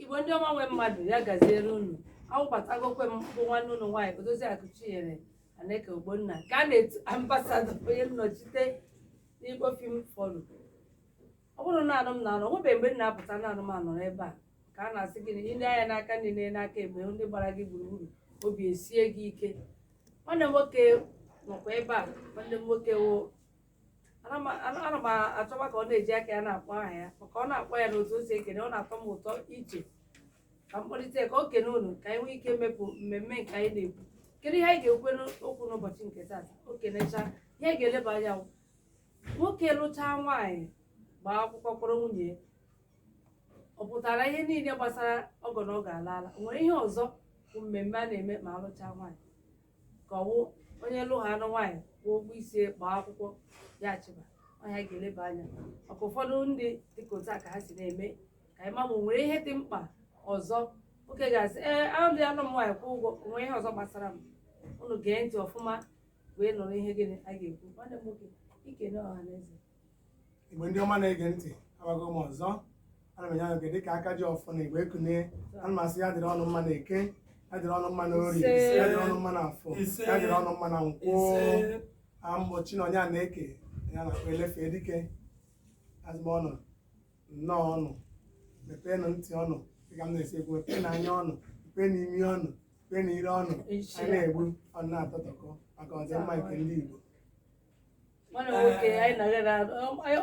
igbo ndị ọma nwe mmadụ ya gaziere unu awụbatagokwe m bụ nwanne unu nwaanyị odoziakụ chinyere aneke ogbonna ka a na-etu ambasadọ onye nnọchite n'igbo film forum ọ bụrọ naanị m na-anọ nwebeghị mgbe m na-apụta naanị m anọ n'ebe a ka a na-asị gị na i lee anya n'aka nri na n'aka ekpe ndị gbara gị gburugburu obi esie gị ike nwanne m nwoke nọkwa ebe a nwanne m nwoke wụ ana m ana- ana m achọba ka ọ na-eji aka ya na-akpọ aha ya maka ọ na-akpọ ya n'otu o si ekene ọ na-atọ m ụtọ iche ka m kpọlite ka o kene unu ka anyị nwee ike mepụ mmemme nke anyị na-ekwu kedu ihe anyị ga-ekwu n'okwu n'ụbọchị nke taa o kenecha ihe anyị ga-eleba anya bụ nwoke lụchaa nwaanyị gbaa akwụkwọ kpọrọ nwunye ya. ọ pụtara ihe niile gbasara ọgọ na ọ ga-ala ala o nwere ihe ọzọ bụ mmemme a na-eme ma a lụchaa nwaanyị ka ọ wụ onye lụhaa nụ nwaanyị kwụọ ụgwọ isi gbaa akwụkwọ ya chịba ọ ya anyị ga-eleba anya maka ụfọdụ ndị dịka otu a ka ha si na-eme ka anyị ma ma o nwere ihe dị mkpa ọzọ nwoke ga-asị ee alụdịa nụ m nwaanyị kwụọ ụgwọ o nwere ihe ọzọ gbasara m unu gee ntị ọfụma wee nụrụ ihe gịnị a ga-ekwu nwanne m nwoke i kenee ọha na eze igbo ndị ọma na-ege ntị abago m ọzọ ana m enye anya oge dịka aka ji ọfọ na igbo ekunie ana m asị ya dịrị unu mma na eke ya dịrị unu mma na orie Ise. ya dịrị unu mma na afọ Ise. ya dịrị unu mma na nkwọ Ise. ọ mụ chinonye aneke a na-akpọ elefe dike asị m unu nnọọ unu mepeenụ ntị unu dịka m na-esi ekwu mepeenụ anya unu mepeenụ imi unu mepeenụ ire unu Ise. anyị na-ekwu unu na-atụtụkọ maka ọdịmma nke ndị Igbo nwanne m nwoke anyị na-aga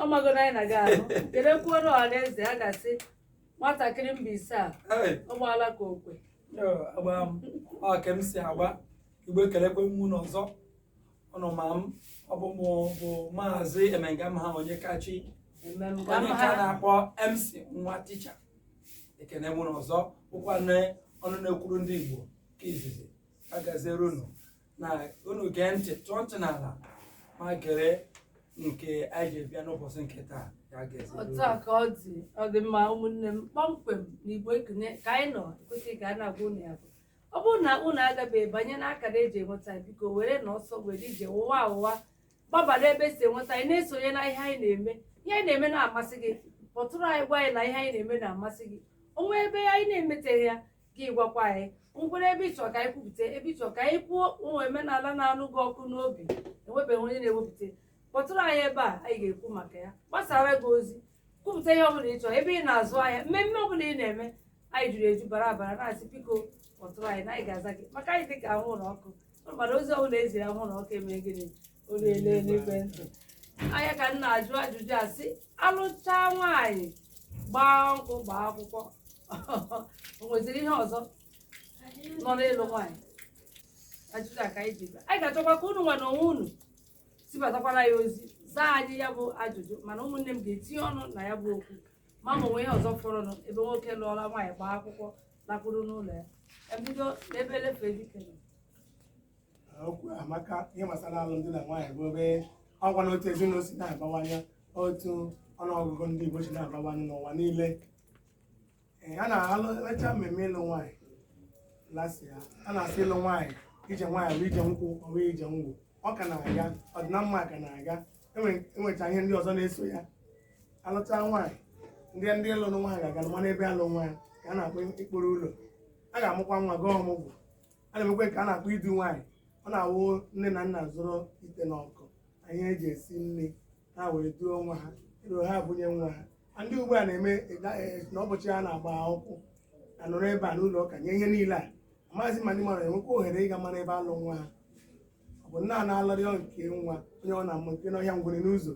ọ mago na anyị na-aga ahụ kedu kwuoro ọha na eze a ga-asị nwatakịrị mbaise a Hey, ọ gbaala ka okwe yo, agba m ọ ka m si agba igbo ekelekwe m unu ọzọ unu ma m ọ bụ mụ bụ maazị emengamha onyekachi eme m ka onye mma ka ha na-akpọ mc nwa ticha ekene m unu ọzọ bụkwa na ọnụ na-ekwuru ndị igbo ke izizi ya gaziere unu na unu gee ntị tọọ ntị n'ala ma gere nke anyị ji bịa n'ụbọchị nke taa ya gazie otu a ka ọ dị ọ dị mma ụmụnne m kpọmkwem na igbo ekene ka anyị nọ ekwesịghị ka a na-agwa unu ya bụ ọ bụrụ na unu agabeghị banye n'akara e ji enweta ya, biko werenụ ọsọ were ije ngwa ngwa gbabara ebe e si enweta anyị na-esonye na ihe anyị na-eme ihe anyị na-eme na-amasị gị kpọtụrụ anyị gwa anyị na ihe anyị na-eme na-amasị gị o nwee ebe anyị na-emeteghị ya gị gwakwa anyị o nwere ebe ị chọ ka anyị kwupụta ebe ị chọ ka anyị kwuo o nwee omenala na-anụ gị ọkụ n'obi e nwebeghị onye na-ewepụta kpọtụrụ anyị ebe a anyị ga-ekwu maka ya gbasaara gị ozi kwupụta ihe ọbụla ị chọrọ ebe ị na-azụ ahịa mmemme ọbụla ị na-eme anyị juru eju bara abara na-asị biko kpọtụrụ anyị na anyị ga-aza gị maka anyị dị ka anwụrụ ọkụ mana ozi ọbụla e ziri anwụrụ ọkụ emee gịnị onye na-ele na-ege ntị anya ka m na-ajụ ajụjụ a sị alụchaa nwaanyị gbaa nkwụ gbaa akwụkwọ o nweziri ihe ọzọ nọ n'ịlụ nwaanyị ajụjụ a ka anyị ji bịa. anyị ga-achọkwa ka unu nwa na onwe unu zibatakwara anyị ozi zaa anyị ya bụ ajụjụ mana ụmụnne m ga-etinye ọnụ na ya bụ okwu ma ma o nwe ihe ọzọ fọrọnụ ebe nwoke lụọla nwaanyị gbaa akwụkwọ lakwuru n'ụlọ ya ebido n'ebe elefe dike nọ okwu a maka ihe gbasara alụmdi na nwaanyị bụ ebe ọgwa na otu ezinụlọ si na-abawanye otu ọnụọgụgụ ndị Igbo si na-abawanye n'ụwa niile Ee, a na-alụcha mmemme ịlụ nwaanyị lasị ya a na-asị ịlụ nwaanyị ije nwaanyị bụ ije nkwụ ọ bụ ije ngwụ ọ ka na-aga ọdịnamma ka na-aga Enwe- enwecha ihe ndị ọzọ na-eso ya alụcha nwaanyị ndị ndị lụrụ nwaanyị ga-aga ma n'ebe alụ nwaanyị ka a na-akpọ ịkpọrụ ụlọ a ga-amụkwa nwa gaa ọmụgwọ a na-emekwa nke a na-akpọ idu nwaanyị ọ na-awụ nne na nna zụrụ ite na ọkụ ihe eji esi nri ha wee duo nwa ha ruo ha bunye nwa ha Ma ndị ugbu a na-eme ịda- eh, na ụbọchị ha na-agba akwụkwọ anọrọ ebe a n'ụlọ ụka nye ihe niile a amaghịzi ma ndị mmadụ enwekwa ohere ịga mara ebe alụ nwa ha ọ bụ nna a na-alọrịọ nke nwa onye ọ na-amụ oke n'ọhịa ngwere n'ụzọ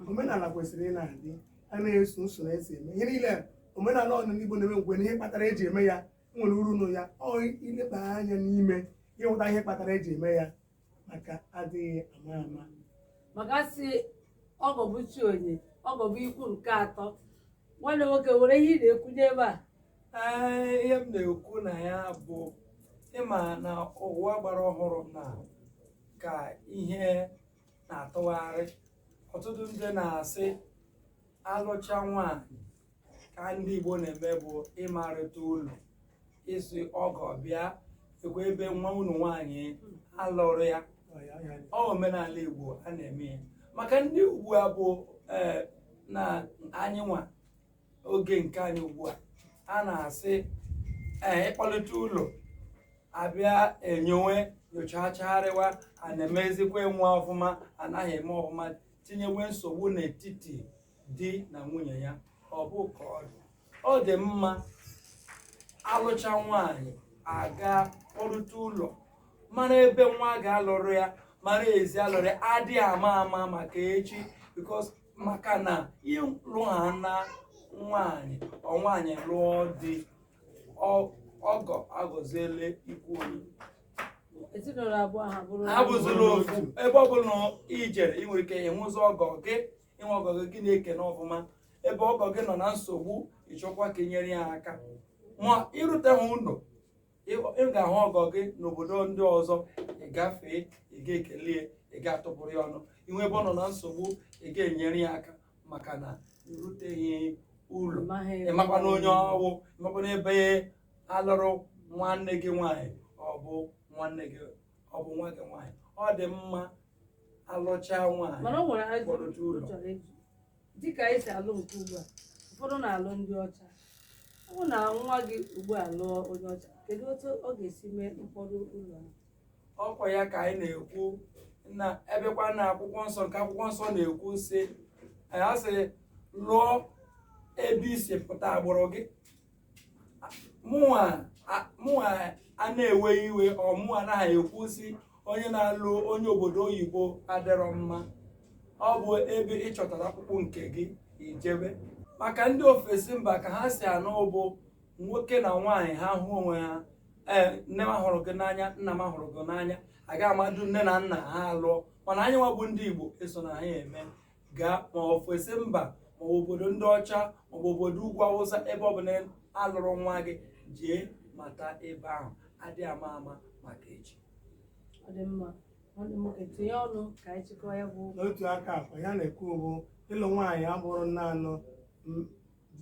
omenala kwesịrị ị na-adị a na-eso usoro esi eme ihe niile omenala ọ bụla ndị Igbo na-eme nwere ihe kpatara eji eme ya nwere uru nọ ya ọ ileba anya n'ime ịhụta ihe kpatara eji eme ya maka adịghị ama ama maka a sị ọgọ bụ chi onye ọgọ bụ ikwu nke atọ nwanne nwoke o nwere ihe ị na-ekwunye ebe a Ee, ihe m na-ekwu na ya bụ ịma na ụwa gbara ọhụrụ na ka ihe na-atụgharị ọtụtụ ndị na-asị alụcha nwaanyị ka ndị Igbo na-eme bụ ịmarịta ụlọ ịsị ọgọ bịa ekwe ebe nwa unu nwaanyị alụrụ ya ọ wụ omenala Igbo a na-eme ya maka ndị ugbu a bụ ee na anyị nwa oge nke anyị ugbu a a na-asị ee ịkpọlite ụlọ abịa enyowe nyochachagharịwa a na-emezikwa nwa ọfụma anaghị eme ọfụma tinyewe nsogbu n'etiti di na nwunye ya ọ bụ ka ọ dị ọ dị mma alụcha nwaanyị aga kpọrụta ụlọ mara ebe nwa gị alụrụ ya mara ezi alụrụ ya adị ama ama maka echi because maka na ịlụ ha na nwaanyị ọ nwaanyị lụọ di ọ- ọgọ aghọziele ikwu onye ezinụlọ abụọ ha bụrụ ha bụziri ofu ebe ọ bụla ijere ị nwere ike ịnwụzi ọgọ gị ị hụ ọgọ gị gị na-ekene ọfụma ebe ọgọ gị nọ na nsogbu ị chọkwa ka i nyere ya aka ma ịrute ha ụlọ ị ga-ahụ ọgọ gị n'obodo ndị ọzọ ị gafee ị ga-ekele ya ị ga-atụpụrụ ya ọnụ ị hụ ebe ọ nọ na nsogbu ị ga-enyere ya aka maka na iruteghị ụlọ ịmakwa na onye ọ wụ ịmakwa na ebe a lụrụ nwanne gị nwaanyị ọ bụ nwanne gị ọ bụ nwa gị nwaanyị ọ dị mma alụchaa nwaanyị mana o nwere ajụjụ Kpọrọ otu ụlọ. ọ chọrọ ịjụ dịka anyị si alụ nke ugbu a ụfọdụ na-alụ ndị ọcha ọ bụ na nwa gị ugbu a lụọ onye ọcha kedu otu ọ ga-esi mee mkpọrọ ụlọ ahụ? ọ kwa ya ka anyị na-ekwu na ebekwa na akwụkwọ nsọ nke akwụkwọ nsọ na-ekwu sị ya sị lụọ ebe i si pụta agbụrụ gị mụnwa a- mụnwa a na-ewe iwe or mụnwa anaghị ekwu sị onye na-alụ onye obodo oyibo adịrọ mma ọ bụ ebe ị chọtara ọkpụkpụ nke gị i jebe maka ndị ofesi mba ka ha si anụ bụ nwoke na nwaanyị ha hụ onwe ha ee nne m ahụrụ gị n'anya nna m ahụrụ gị n'anya aga amadu nne na nna ha alụọ mana anyị nwa bụ ndị igbo eso na anyị eme gaa ma ofesi mba ma obodo ndị ọcha maọbụ obodo ugwu awụsa ebe ọ bụla a lụrụ nwa gị jee mata ebe ahụ adị ama ama maka echi n'otu aka akwa ya na-ekwu bụ ịlụ nwaanyị abụrọ naanị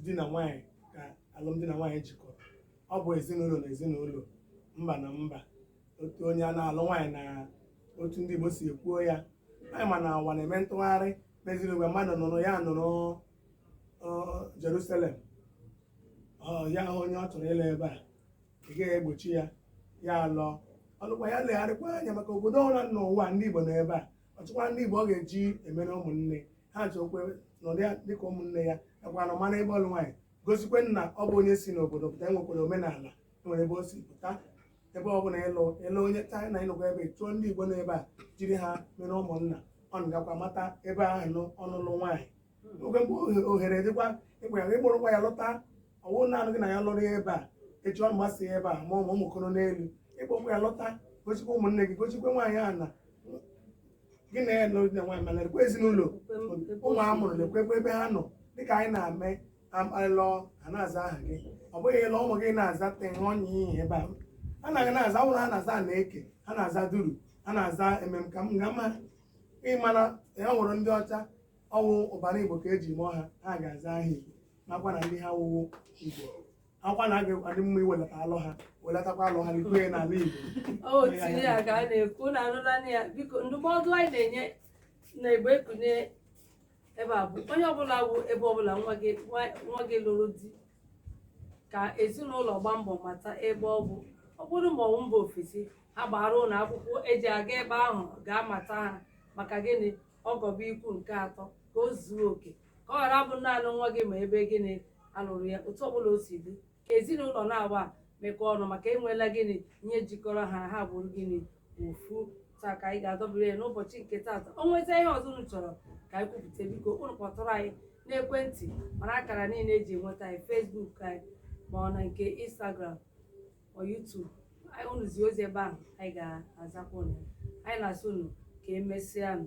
di na nwaanyị ka alụmdi na nwaanyị jikọrọ ọ bụ ezinụlọ na ezinụlọ mba na mba otu onye a na-alụ nwaanyị na otu ndị Igbo si ekwuo ya anyị ma na ụwa na-eme ntụgharị meziri mgbe mmadụ nọrọ ya nọrọ Jerusalem ya hụ onye ọ chọrọ ịlụ ebe a ị gaghị egbochi ya ya lụọ ọ lụkwa ya legharịkwa anya maka obodo ọbụla n'ụwa ndị Igbo nọ ebe a ọ chọkwa ndị Igbo ọ ga-eji emere ụmụnne ha chọkwe nọdụ ya dịka ụmụnne ya nakwa na mara ebe ọ lụ nwaanyị gosikwe na ọ bụ onye si n'obodo pụta enwekwara omenala nwere ebe o si pụta ebe ọ bụla ịlụ ịlụ onye China ị nọkwa ebe chọọ ndị Igbo nọ ebe a jiri ha mere ụmụnna ọ gakwa mata ebe ahụ nụ ọ lụrụ nwaanyị oge mgbe ohere dịkwa ịgwa ya ị kpọrọkwa ya lọta ọ wụ naanị gị na ya lụrụ ya ebe a echi ọ gbasaa ebe a ma ụmụ ụmụ ekoro n'elu ị kpọkwa ya lọta gosikwa ụmụnne gị gosikwa nwaanyị ahụ na gị na ya lụrụ na nwaanyị mana lekwa ezinụlọ ụmụ a mụrụ lekwekwa ebe ha nọ dịka anyị na-eme akparịla a na-aza aha gị ọ bụghị ịlọ ụmụ gị na-aza teṅụọ nye ihe ebe a a naghị na-aza ụlọ ha na-aza na eke ha na-aza duru ha na-aza emem ka m ga mma ị mara ya nwere ndị ọcha ọ wụ ọbara igbo ka e ji mụọ ha ha ga-aza aha igbo nakwa na ndị ha wụwo igbo ọ kwa na ọ ga-adị mma iwelata alụ ha welatakwa alụ ha likwe ya n'ala igbo o tinye ya ka a na-ekwu na anụla ya biko ndụmọdụ anyị na-enye na igbo ekunie ebe a bụ onye ọbụla bụ ebe ọbụla nwa gị nwa- nwa gị lụrụ di ka ezinụlọ gbaa mbọ mata ebe ọ bụ ọ bụrụ ma ọ wụ mba ofesi ha gbara unu akwụkwọ eji aga ebe ahụ gaa mata ha maka gịnị ọgọ bụ ikwu nke atọ ka o zuo oke ka ọ ghara bụ naanị nwa gị ma ebe gịnị a lụrụ ya otu ọbụla o si dị ka ezinụlọ naabọ mekọọ ọnụ maka e nweela gịnị ihe jikọrọ ha ha bụrụ gịnị ofu taa ka anyị ga-adọbiri ya n'ụbọchị nke taata o nwezie ihe ọzọ unu chọrọ ka anyị kwupụta biko unu kpọtụrụ anyị n'ekwentị ma n'akara niile eji enweta anyị Facebook anyị ma ọ na nke Instagram ma YouTube anyị unu zie ozi ebe ahụ anyị ga-azakwa unu anyị na-asị unu ka emesịa nụ